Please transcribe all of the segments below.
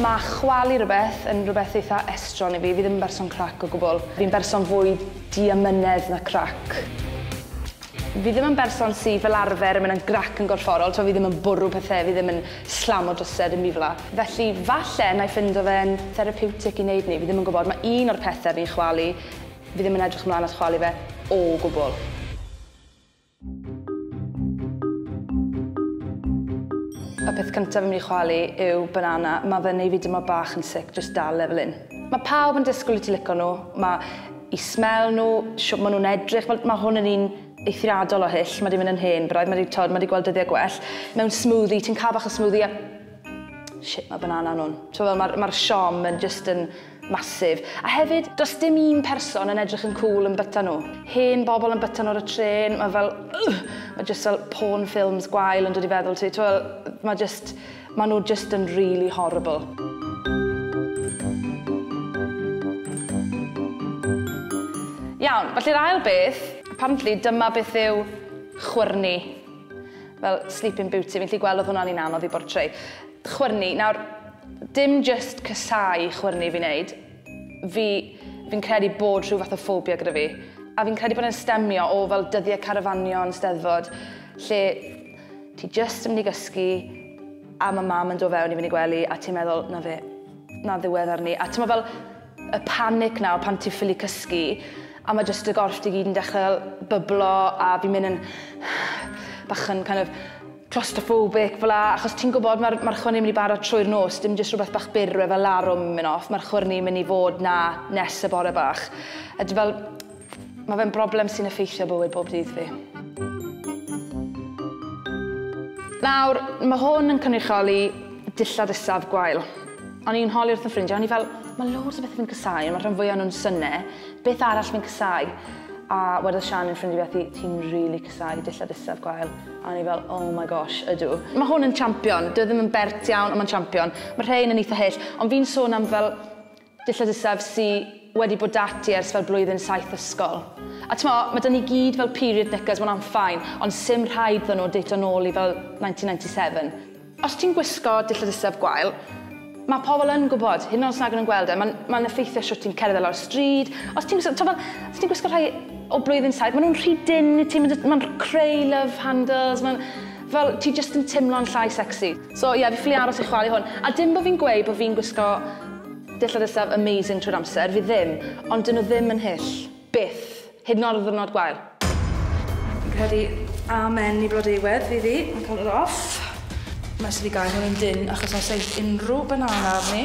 Mae chwalu rhywbeth yn rhywbeth eitha estron i fi, fi ddim yn berson crac o gwbl. Fi'n berson fwy diamynedd na crac. Fi ddim yn berson sy fel arfer yn mynd yn grac yn gorfforol, t'mo' fi ddim yn bwrw pethe, fi ddim yn slam o drysedd yn mifla. Felly falle nai ffindo fe'n therapeutic i neud 'ny, fi ddim yn gwbod, ma' un o'r pethe fi'n chwalu, fi ddim yn edrych ymlan at chwalu fe o gwbwl. Y peth cynta fi myn' i chwalu yw banana, ma' fe'n neu' fi dimlo bach yn sick jyst dal e fel 'yn. Ma' pawb yn disgwl i ti lico nhw, ma' 'u smell nhw, shwt ma' nhw'n edrych, fel ma' hwn yn un eithriadol o hyll, ma di mynd yn hen braidd, ma di t'od, ma di gweld dyddiau gwell, mewn smoothie, ti'n cael bach o smoothie a shit ma banana nhw'n, t'mo fel ma'r ma'r siom yn jyst yn massive. A hefyd does dim un person yn edrych yn cŵl yn byta nhw. Hen bobl yn byta nhw ar y trên, ma fel ugh, ma jyst fel porn films gwael yn dod i feddwl ti, t'mo fel ma jyst, Maen nhw jyst yn really horrible. Iawn, felly'r ail beth, apparently dyma beth yw chwyrnu. Fel Sleeping Beauty, fi'n lli gweld oedd hwnna'n un anodd i bortreu. Chwyrnu, nawr, dim just cysau chwyrnu fi'n neud. Fi, fi'n credu bod rhyw fath o ffobia gyda fi. A fi'n credu bod e'n stemio o fel dyddiau carafanion, steddfod, lle Ti jyst yn mynd i gysgu a mae mam yn dod fewn i fynd i gwely a ti'n meddwl, na fe, na ddiwedd arni. A ti'n meddwl fel y panic na pan ti'n ffili cysgu a mae jyst y gorff ti gyd yn dechrau byblo a fi'n mynd yn bach yn kind of claustrophobic fel la, achos ti'n gwybod mae'r marchwr ni'n mynd i bara trwy'r nos, dim jyst rhywbeth bach byr, rhywbeth fel larwm yn mynd off, marchwr ni'n mynd i fod na nes y bore bach. A dwi fel, Mae fe'n broblem sy'n effeithio bywyd bob dydd fi. Nawr, mae hwn yn cynrychioli dillad isaf gwael. O'n i'n holi wrth y ffrindiau, o'n i fel, mae loads o bethau fi'n cysau, ond mae rhan fwyaf nhw'n syne, beth arall fi'n cysau? A wedodd Sian yn ffrindiau beth i, ti'n rili really cysau dillad isaf gwael. A o'n i fel, oh my gosh, ydw. Mae hwn yn champion, dwi e ddim yn bert iawn, ond mae'n champion. Mae rhain yn eitha hyll, ond fi'n sôn am fel Dillad isaf sy wedi bod da ti ers fel blwyddyn saith ysgol. A t'mo, ma da ni gyd fel period knickers one am fine, ond sim rhaid ddo nhw dato nôl i fel 1997. Os ti'n gwisgo dillad isaf gwael, ma pobl yn gwbod, hyd yn oed os nag yn yn gweld e, ma'n ma'n effeithio shwt ti'n cerdded lawr y stryd, os ti'n gwisgo, t'mo fel, os ti'n gwisgo rhai o blwyddyn saith, ma nhw'n rhy dynn i ti, ma nhw'n creu love handles, ma'n, fel, ti jyst yn timlo'n llai sexy. So ie, fi ffili aros i chwalu hwn. A dim bo fi'n gweud bo fi'n gwisgo dillad isaf amazing trwy'r amser, fi ddim, ond 'dyn nhw ddim yn hyll. Byth. Hyd yn o'd ar ddiwrnod gwael. Fi'n credu amen i Blodeuwedd fydd hi, yn colour off. Wnes i fi gael hwn yn dynn achos os eith unrhyw banana arni.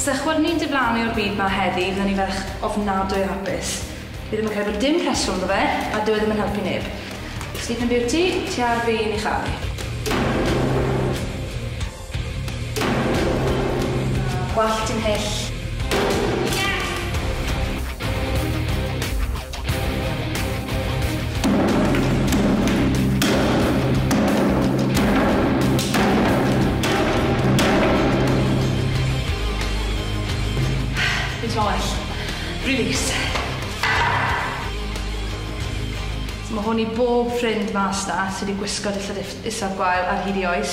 Sa chwd ni'n diflannu o'r byd ma heddi fydden ni ferch ofnadwy o hapus. Fi ddim yn credu bod dim rheswm ddo fe a dyw e ddim yn helpu neb. Sleeping Beauty, ti ar fi i ni charu. Gwallt di'n hyll. Mae hwn i bob ffrind mas 'na sy' 'di gwisgo dillad is- isaf gwael ar hyd 'i oes.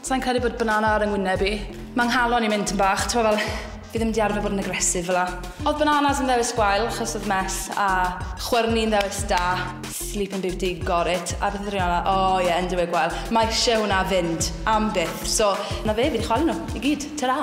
Sai'n credu bod banana ar 'y ngwyneb i. Ma' 'nghalon i'n mynd tym bach, t'mo' fel, fi ddim 'di arfer bod yn aggressive fel 'a. Odd bananas yn ddewis gwael achos odd mess a chwyrni'n ddewis da. Sleeping Beauty, got it. A beth odd y rhei arall? O ie, Underwear gwael. Ma' isie hwnna fynd, am byth. So, 'na fe, fi 'di chwalu nhw, i gyd. Tara!